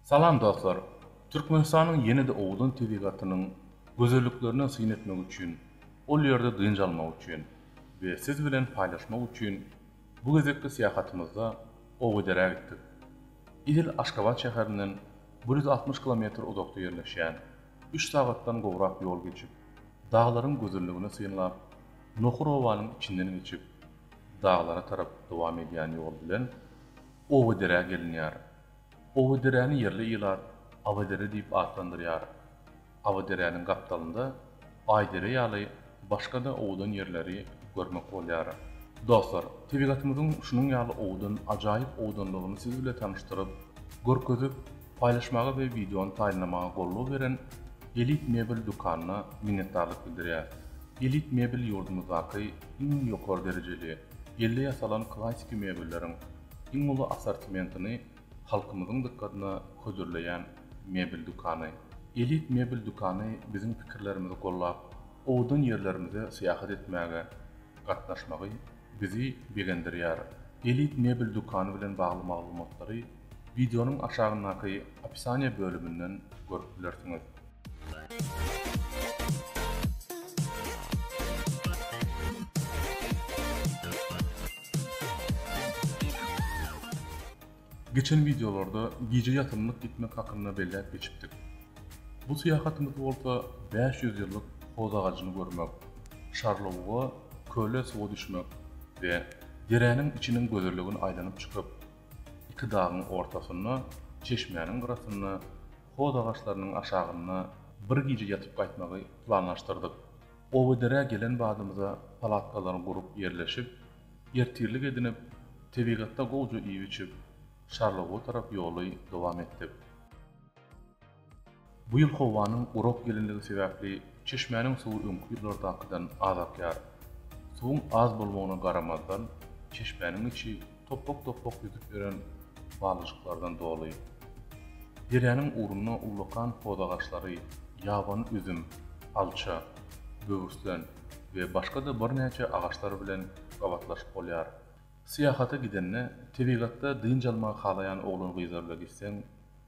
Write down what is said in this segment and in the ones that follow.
Salam dostlar! Türkmenistanyň ýene-de owgan tebigatynyň gözelliklerine syn etmek üçin, ol ýerde dynç almak üçin we siz bilen paýlaşmak üçin bu gezekki syýahatymyzda Owgederä gitdik. Edil Aşgabat şäherinden bir ýüz altmyş kilometr uzakda ýerleşýän, üç sagatdan gowrak ýol geçip, daglaryň gözelligini synlap, Nohur obanyň içinden geçip, daglara tarap dowam edýän ýol bilen Owgederä gelinýär. Owaderäni ýerli ilat Awydere diýip atlandyrýar. Awyderäniň gapdalynda Aýdere ýaly başga-da owadan ýerleri görmek bolýar. Dostlar, tebigatymyzyň şunuň ýaly owadan, ajaýyp owadanlygyny siz bile tanyşdyryp, görkezip, paýlaşmaga we wideony taýynlamaga goldaw beren Elit mebel dükanyna minnetdarlyk bildirýäs. Elit mebel ýurdumyzdaky iň ýokary derejeli, elde ýasalan klassiki mebelleriň, Iň uly assortimentini halkymyzyň dykgatyna hödürleýän mebel dükany. Elit mebel dükany biziň pikirlerimizi gollap, owadan ýerlerimize syýahat etmäge gatnaşmagy bizi begendirýär. Elit mebel dükany bilen bagly maglumatlary wideonyň aşagyndaky opisaniýa bölüminden görüp bilersiňiz. Geçen videolarda gije ýatymlyk gitmek hakynda belläp geçipdik. Bu syýahatymyz bolsa 500 ýyllyk hoz agajyny görmek, Şarlowga köle suwa düşmek we deräniň içiniň gözelligini aýlanyp çykyp, Iki dagyň ortasynda, çeşmäniň gyrasynda, hoz agaçlarynyň aşagynda bir gije ýatyp gaýtmagy planlaşdyrdyk. Obaderä gelen badymyza palatkalary gurup ýerleşip, ertirlik edinip, tebigatda gowja iýip-içip, Şarlowga tarap ýoly dowam etdik. Bu ýyl howanyň gurak gelinligi sebäpli çeşmäniň suwy öňki ýyllardakydan az akýar. Suwuň az bolmagyna garamazdan, çeşmäniň içi topbak-topbak ýüzüp ýören balyjyklardan doly. Derýanyň ugrunda ullakan hoz agaçlary, ýabany üzüm, alça, böwürslen we başga-da birnäçe agaçlar bilen gabatlaşyp bolýar. Syýahata gidende, tebigatda dynç almagy halaýan oglan-gyzlarla gitseň,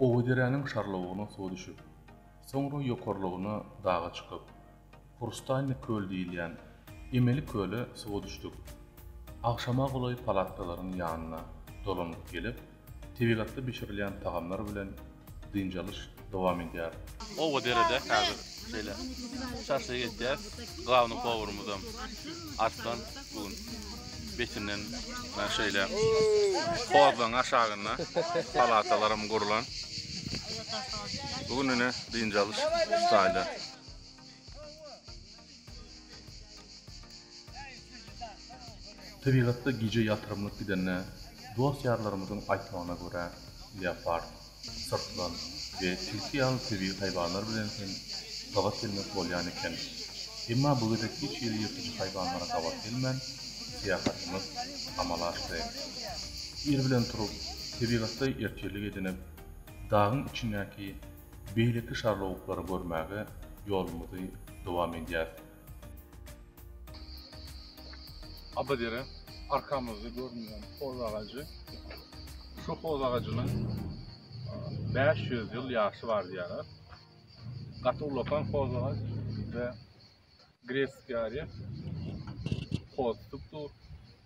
Owaderäniň şarlawugyna suwa düşüp, soňra ýokarlygyna daga çykyp, Hrustaýny köl diýilýän emeli köle suwa düşdük. Agşama golaý palatkalaryň ýanyna dolanyp gelip, Tebigatda bişirilýän tagamlar bilen dynç alyş dowam edýär. Oba derede häzir şeýle şaşlyk etýäs. Glavny powurymyzam Arslan bu gün betinden Mana şeýle hozlaň aşagynda palatalaram gurlan. Bu gün ine dynç alyş ştaýda. Tebigatda gije ýatyrymlyk gidende, dost-ýarlarymyzyň aýtmagyna görä, leopard, syrtlan we tilki ýaly tebigy haýwanlar bilen hem gabat gelmek bolýan eken. Emma bu gezek hiç hili ýyrtyjy haýwanlara gabat gelmän, syýahatymyz amala aşdy. Ir bilen turup, tebigatda ertirlik edinip, dagyň içindäki Beýleki şarlawuklary görmäge ýolumyzy dowam edýäris. Abadere arkamyzda görünýän hoz agajy. Şu hoz agajynyň bäş ýüz ýyl ýaşy bar diýýärler. Gaty ulakan hoz agaç we Gresiýa hossupdur,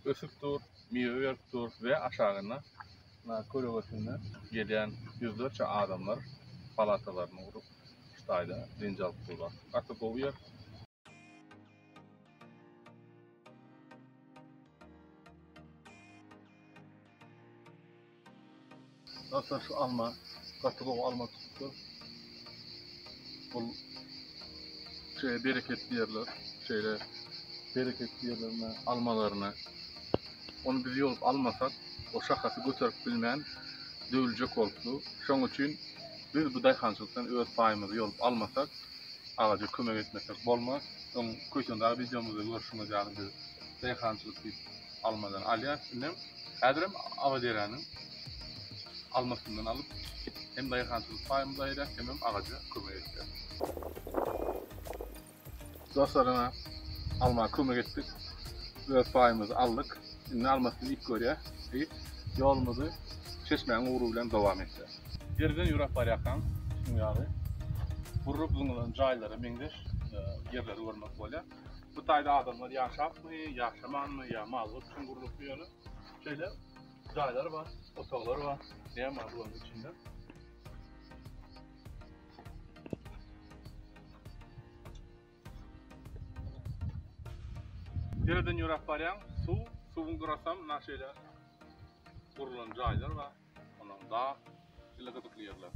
ösüpdir, miwe beripdir we aşagynda kölegesinde gelýän ýüzlerçe adamlar palatalaryny gurup, şu taýda dynç alyp durlar. Gaty gowy ýer. Dostlar şu alma gaty gowy alma tutupdyr. Bu şeýle bereketli ýerler, şeýle bereketli ýerlerine almalaryny onu biz ýolup almasak, o şahasy göterip bilmän döwüljek bolupdy. Şoň üçin biz bu daýhançylykdan öz paýymyzy ýolup almasak, agaja kömek etmesek bolmaz. Öň köýtendag wideomyzda görşüňiz ýaly biz daýhançylyk diýip almadan alýar. Şunda hem häzir hem Abaderäniň almasyndan alyp, hem daýhançylyk paýymyzy aýyrýas, hem hem agaja kömek etýäs. Dostlar, ine, alma kömek etdik. Öz paýymyzy aldyk. Indi almasyny iýip görýäs we ýolumyzy çeşmäň ugry bilen dowam etýäs. Deriden ýöräp barýarkaň, şuň ýaly gurrup zyňylan jaýlara meňzeş ýerleri görmek bolýar. bu taýda adamlar ýaşapmy, ýaşamanmy ýa mallar üçin gurlupmy ýöne şeýle jaýlar bar, otaglar bar. Näme bar bularyň içinde? Dereden ýöräp barýaň, suw, suwuň gyrasam na şeýle gurlan jaýlar bar. Onuň dag dili gyzykly ýerler.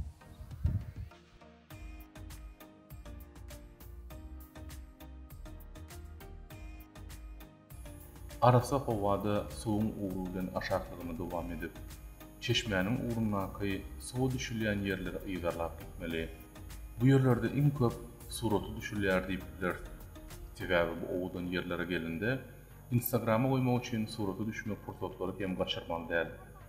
Arassa howada suwuň ugry bilen aşaklygyny dowam edip, çeşmäniň ugrundaky suwa düşülýän ýerleri yzarlap gitmeli. Bu ýerlerde iň köp suraty düşülýär diýip bileris. Sebäbi bu owadan ýerlere gelende, Instagrama goýmak üçin surata düşmek pursatlary hem gaçyrmaly däl.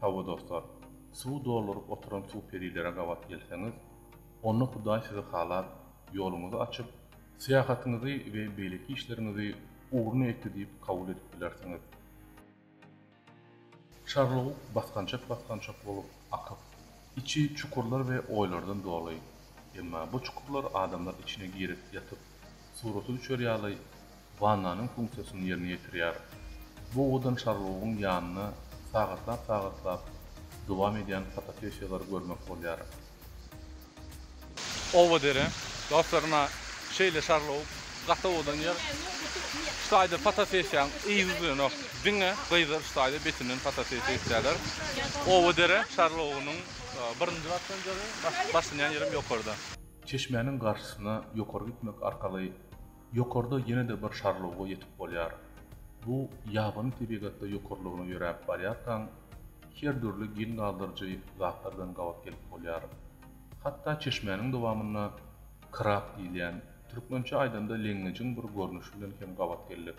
Hawa dostlar, suwy dolduryp oturan suw perilere gabat gelseňiz, onda Hudaý sizi halap, ýoluňyzy açyp, syýahatyňyzy we beýleki işleriňizi ugruna etdi diýip kabul edip bilersiňiz. Çarluguk basgançak-basgançak bolup akyp, içi çukurlar we oýlardan doly. Emma bu çukurlar adamlar içine girip ýatyp, suraty düşer ýaly, wannanyň funksiýasyny ýerine ýetirýär. Bu owdan şarlawugyň ýanyna sagatlap-sagatlap dowam edýän fotosessiýalary görmek bolýar. Oba dere. Dostlar ynha şeýle şarlawuk gaty owadan ýer. Şu taýda fotosessiýaň yzy bilenok diňe gyzlar şu taýda betinden fotosessiýa etýärler. Oba dere şarlawugynyň birinji gatdan jygy, başlanýan ýerem ýokarda. Çeşmäniň garşysyna ýokary gitmek arkaly Ýokarda ýene-de bir şarluga ýetip bolýar. Bu ýabany tebigatda ýokarlygyna ýöräp barýarkaň, her dürli geň galdyryjy zatlar bilen gabat gelip bolýar. Hatda çeşmäniň dowamynda krab diýilýän, türkmençe aýdanda leňňejiň bir görnüşi bilen hem gabat geldik.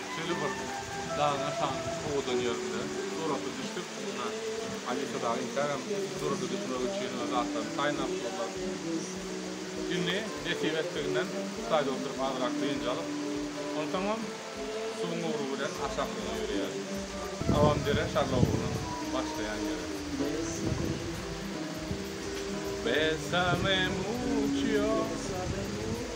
Şeýle bir dagyň aşagynda owadan ýerinde surata düşdük. Mundan Alisa dagy intägem surata düşmek üçin öz zatlaryny saýlap durlar. Indi nesip etdiginden staýda oturyp azyrak dynç alyp, onsoňam suwuň ugry bilen aşak ýola ýöreýäris. Abamdere şarla ugrunyň başlaýan ýeri. Besamem uçýa.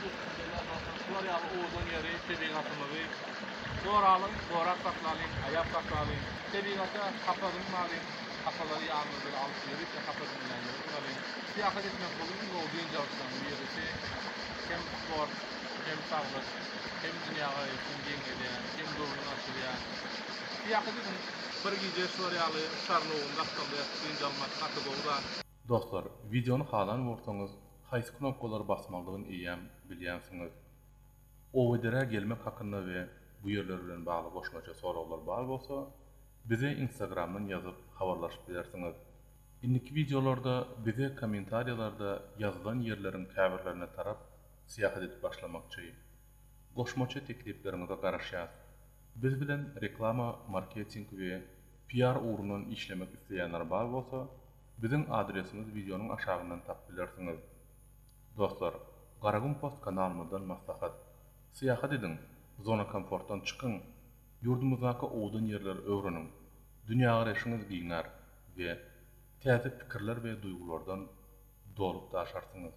Bismillah dostlar şular ýaly owadan ýeri tebigatymyzy goralyň gorap saklalyň aýap saklalyň tebigata hapa dymmalyň hapalary ýanymyz bilen alyp ýörite hapa dymylýanlara dymmalyň syýahat etmek bul iň gowy dynç alyşlaryň birisi hem sport hem saglyk hem dünýä garaýyşyňy geňledýän hem göwnüňi açylýan syýahat ediň bir gije şular ýaly şarlowunda hapalda ýatyp dynç almak gaty gowy zat. Dostlar wideony halan bolsaňyz haýsy knopkalary basmalydygyn eýýäm bilýänsiňiz. Owederä gelmek hakynda we bu ýerler bilen bagly goşmaça soraglar bar bolsa bize instagramdan ýazyp habarlaşyp bilersiňiz. Indiki wideolarda bize kommentariýalarda ýazylan ýerleriň käbirlerine tarap syýahat edip başlamakçy. Goşmaça teklipleriňize garaşýas. Biz bilen reklama, marketing we PR ugrundan işlemek isleýänler bar bolsa Biziň adresimiz wideonyň aşagyndan tapyp bilersiňiz. Dostlar, Garagum Post kanalymyzdan maslahat. Syýahat ediň, zona komfortdan çykyň, ýurdumyzdaky owadan ýerleri öwreniň, dünýägaraýşyňyz giňär we täze pikirler we duýgulardan dolup daşarsyňyz.